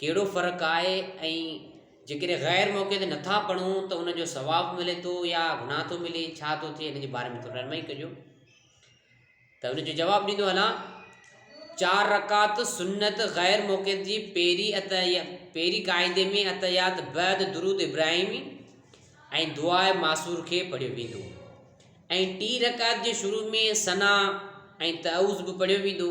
ڪهڙو فرق آهي ۽ جيڪڏهن غير موقعي تي نٿا پڙهون ته ان جو ثواب ملي ٿو يا گناهه ٿو ملي ڇا ٿو ٿئي ان جي باري ۾ ٿوري رحمائي ڪجو ته ان جو جواب ڏيندو هلان چار رڪعت سنت غير موقع جي پيري ات يا پيري قاعدي ۾ اتيات بعد درود ابراهيمي ۽ دعا معصور کي پڙهيو ويندو ۽ ٽي رڪعت جي شروع ۾ سنا ۽ تعوز به پڙهيو ويندو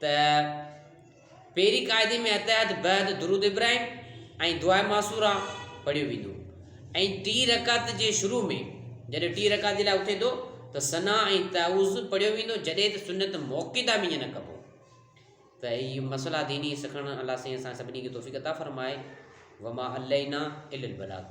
ته پهرين قاعدي ۾ اتحيات بعد درود ابراهيم ۽ دعا معصوره پڙهيو ويندو ۽ ٽي رڪعت جي شروع ۾ جڏهن ٽي رڪعت جي لاء اٿي ٿو ته ثنا ۽ تعوذ پڙهيو ويندو جڏهن ته سنت موقعدا ۾ ائين نه ڪبو ته هي مسئلا ديني سکڻ الله سائين اسان سڀني کي توفيق عطا فرمائي وما علينا الا البلاغ